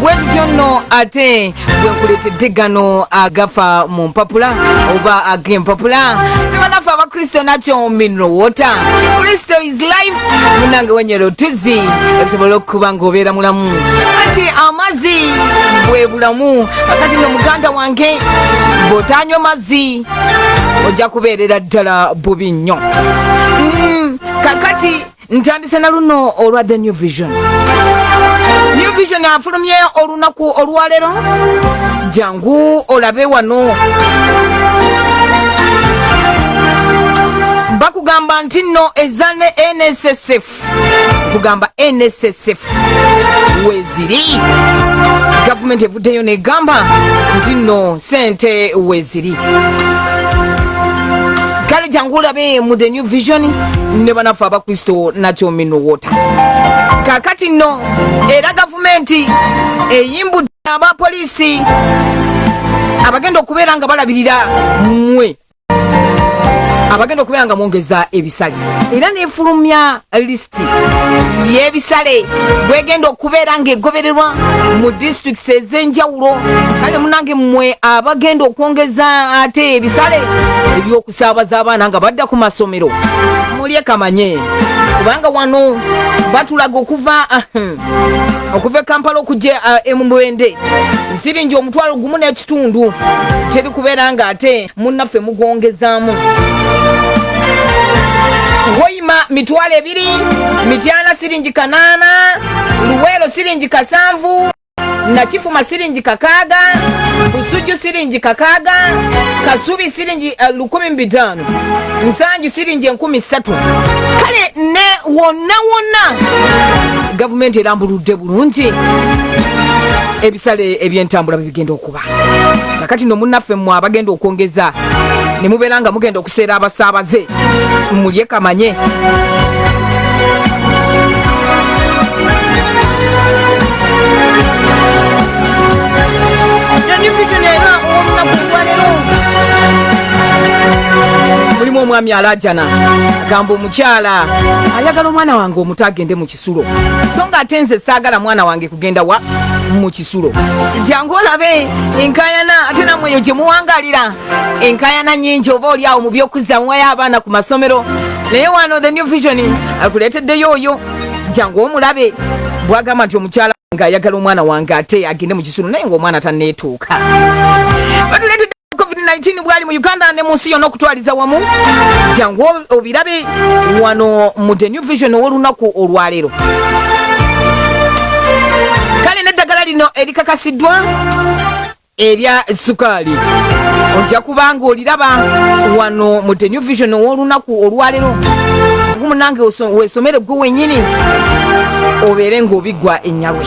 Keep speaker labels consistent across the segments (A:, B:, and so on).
A: bwetutyo nno ate bwenkuleetedde gano agafa mu mpapula oba ag'empapula ne banaffe abakristo nakyo mineral water kristo is life munange wenyero tuzzi esobole okuba ng'obeera mulamu kati amazzi bwe bulamu akati no muganda wange bw'otanywa mazzi ojja kubeerera ddala bubi nnyo Mm, kakati ntandise na luno olwa the new vision new vision afulumye olunaku olwaleero jangu olabe wano bakugamba nti nno eza ne nssf kugamba nssf weziri gavumenti evuddeyo negamba nti nno sente weziri kale jangu olabe mu the new vision ne banaffe abakristo nakyo minuwota kakati nno era gavumenti eyimbudde abapoliisi abagenda okubeera nga balabirira mwe abagenda okubeera nga mwongeza ebisale era nefulumya list disitulikiti yebisale bwegenda okubeera nga egobererwa mu disitulikiti ezenjawulo kale munange mmwe abagenda okwongeza ate ebisale ebyokusaabaza abaana nga badda ku masomero mulye kamanye kubanga wano batulaga okuva okuva ekampala okujja uh, emubwende nsiringi omutwalo gumu n'ekitundu teri kubeera nga ate munnaffe mugwongezaamu Hoima mitwalo ebiri, Mityana siringi kanaana, Luweero siringi kasanvu, Nakifuma siringi kakaaga, Busujju siringi kakaaga, Kasubi siringi uh, lukumi mbitaano, Nsangi siringi enkumi ssatu. Kale ne wonna wonna gavumenti erambuludde bulungi ebisale ebyentambula bibigenda oku bagoba kakati no munaffe mmwe abagenda okwongeza ne mubeera nga mugenda okuseera abasaabaze mulye kamanye mulimu omwami alajana agamba omukyala ayagala omwana wange omuto agende mu kisulo so nga ate nze saagala mwana wange kugenda wa mu kisulo jangu olabe enkayana ate namwe eyo gye muwangalira enkayana nyingi oba oli awo mu by'okuzzamuwayo abaana ku masomero naye wano the new vision akuleeteddeyo oyo jangu omulabe bwagamba nti omukyala ng'ayagala omwana wange ate agende mu kisulo naye ng'omwana taneetuuka COVID-19 bwali mu Uganda ne munsi yonna okutwaliza wamu jangu obirabe wano mu The New Vision ow'olunaku olwaleero kale n'eddagala lino erikakasiddwa erya sukaali ojja kuba nga oliraba wano mu The New Vision ow'olunaku olwaleero gumunange wesomere gwe wenyini obeere ng'obiggwa ennyabwe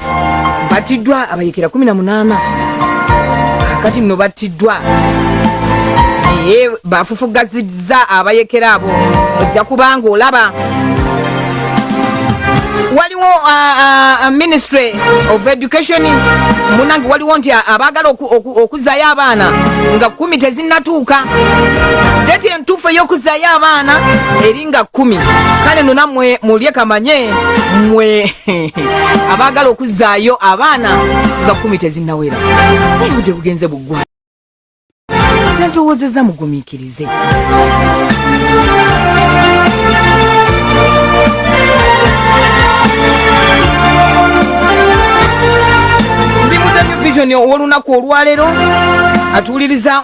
A: battiddwa abayekera 18 kakati nno battiddwa naye bafufugazizza abayekera abo ojja kubanga olaba waliwo uh, uh, uh, ministry of education munange waliwo nti abaagala okuzayo abaana nga kumi tezinatuuka deti entuufu ey'okuzayo abaana eri nga kumi kale no namwe mulye kamanye mwe abaagala okuzaayo abaana nga kumi tezinnawera naye budde bugenze buggwa nalowoozeza mugumiikirize ndi mudamyo vision ow'olunaku olwaleero atuwuliriza